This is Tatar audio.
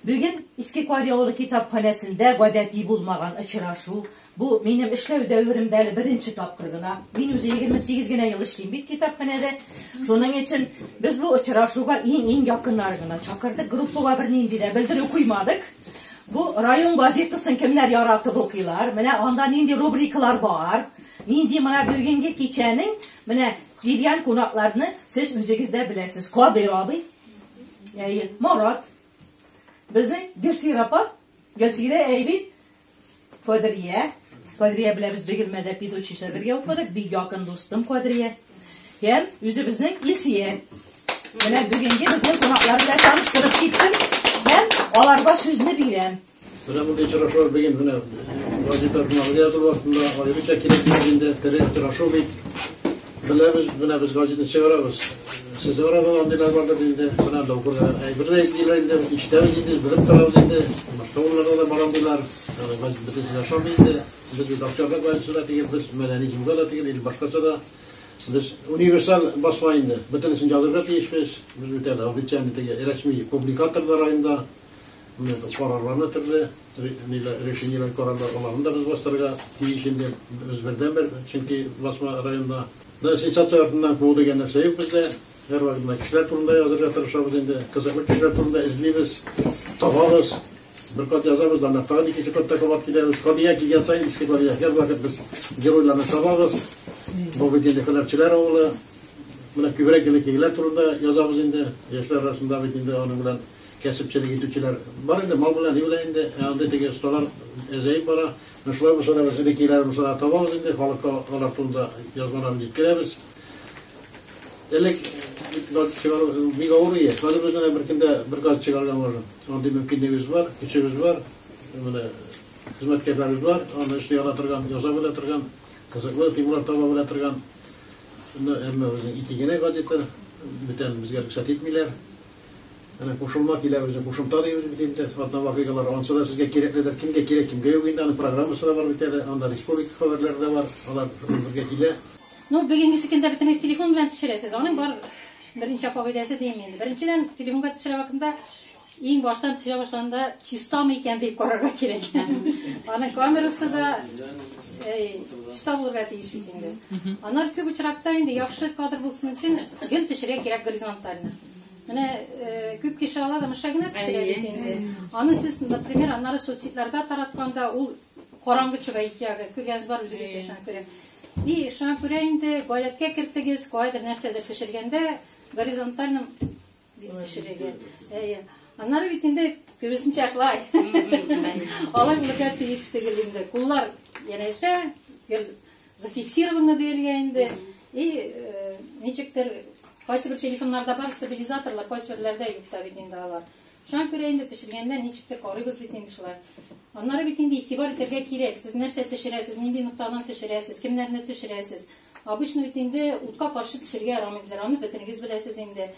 Бүген Иске Карь авылы китапханәсендә гадәти булмаган очрашу. Бу минем эшләү дәверемдә әле беренче тапкыр гына. Мин үзе 28 генә ел эшлим бит китапханәдә. Шуның өчен без бу очрашуга иң-иң якыннар гына чакырдык. Группага бернинди дә белдерү куймадык. Бу район газетасын кемнәр яратып укыйлар? Менә анда нинди рубрикалар бар? Нинди менә бүгенге кичәнең менә килгән кунакларны сез үзегез дә беләсез. Кадыйр абый, Әйе, Марат. Безнең Гөлсира апа, Гөлсира әйбит. Кадрия. Кадрия белән без Бегелмәдә педучилищеда бергә укыдык. Бик якын дустым Кадрия. Һәм үзебезнең Илсия. Менә бүгенге безнең кунаклар белән таныштырып киттем. Һәм аларга сүзне бирәм. Менә мондый очрашулар бүген менә газета журналында язылу вакытында аеруча кирәк бит инде, тере очрашу бит. Беләбез, менә без газетаны чыгарабыз. Сез арада андыйлар бардыр инде, менә доктор әйбер дә әйтмиләр инде, ишетәбез инде, белеп торабыз инде. Башка урыннарда да барам диләр. Газет бөтенесе дә шом инде. Без бит акчага газетасы да түгел, без мәдәни җомга да түгел, или башкача да. Без универсаль басма инде. Бөтенесен язырга тиешбез. Без бит әле официаль теге рәсми публикатор да районда. Менә бу карарларны төрле ниләр решениеләр карарлар аларны да без бастырырга тиеш инде без бердән бер чөнки басма районда да сенсация артыннан куу дигән нәрсә юк бездә һәрвакыт менә кешеләр турында язырга тырышабыз инде кызыклы кешеләр турында эзлибез табабыз бер кат язабыз да тагын икенче катта кабат киләбез кадия килгән саен иске кадия һәрвакыт без геройларны табабыз бу бит инде һөнәрчеләр авылы менә күбрәк инде килгәннәр турында язабыз инде яшьләр арасында бит инде аның белән Кәсепчелек итүчеләр бар инде, мал белән юк да инде, ә андый теге осталар әзәеп бара. Менә шулар булса да без элеккеләребезне да табабыз инде, халыкка алар турында язмаларын җиткерәбез. Элек бит газ чыгару бик авыр иде. Хәзер без менә бер көндә бер газ чыгарырга можем. Андый мөмкинлегебез бар, көчебез бар. Менә хезмәткәрләребез бар, аны эшли ала торган, ясап ала торган, кызыклы темалар таба белә торган. Әмма безнең ике генә газета, бүтән безгә рөхсәт итмиләр. Әнә кушылма килә үзе, кушымта дибез бит инде, атна вакыйгалары, ансы да сезгә кирәкледер, кемгә кирәк, кемгә юк инде, аның программасы да бар бит әле, анда республика хәбәрләре дә бар, алар безгә килә. Ну, бүгенгесекендә бөтенегез телефон белән төшерәсез, аның бар берничә кагыйдәсе дим инде. Беренчедән, телефонга төшерә вакытында иң баштан төшерә башлаганда чистамы икән дип карарга кирәк. Аның камерасы да чиста булырга тиеш бит инде. Аннан күп очракта инде яхшы кадр булсын өчен гел төшерә кирәк горизонтально. Менә э, күп кеше ала да мыша генә пешерә бит инде. Аны сез, например, аннары соцсетьләргә таратканда ул караңгы чыга ике ягы. Күргәнегез бар үзегез дә шуңа күрә. И шуңа күрә инде гаиләткә кертегез, кайдыр нәрсәдә пешергәндә горизонтальным пешерегез. Әйе. Аннары бит инде күбесенчә шулай. Алай булырга тиеш түгел инде. Куллар янәшә гел Зафиксированы диелгән инде. И э, ничектер кайсы бер телефоннарда бар стабилизаторлар, кайсы берләрдә юк та бит инде алар. Шуңа күрә инде төшергәндә ничектер карыйбыз бит инде шулай. Аннары бит инде игътибар итәргә кирәк. Сез нәрсә төшерәсез, нинди ноктадан төшерәсез, кемнәрне төшерәсез. Обычно бит инде утка каршы төшергә ярамый. Рамны бөтенегез беләсез инде.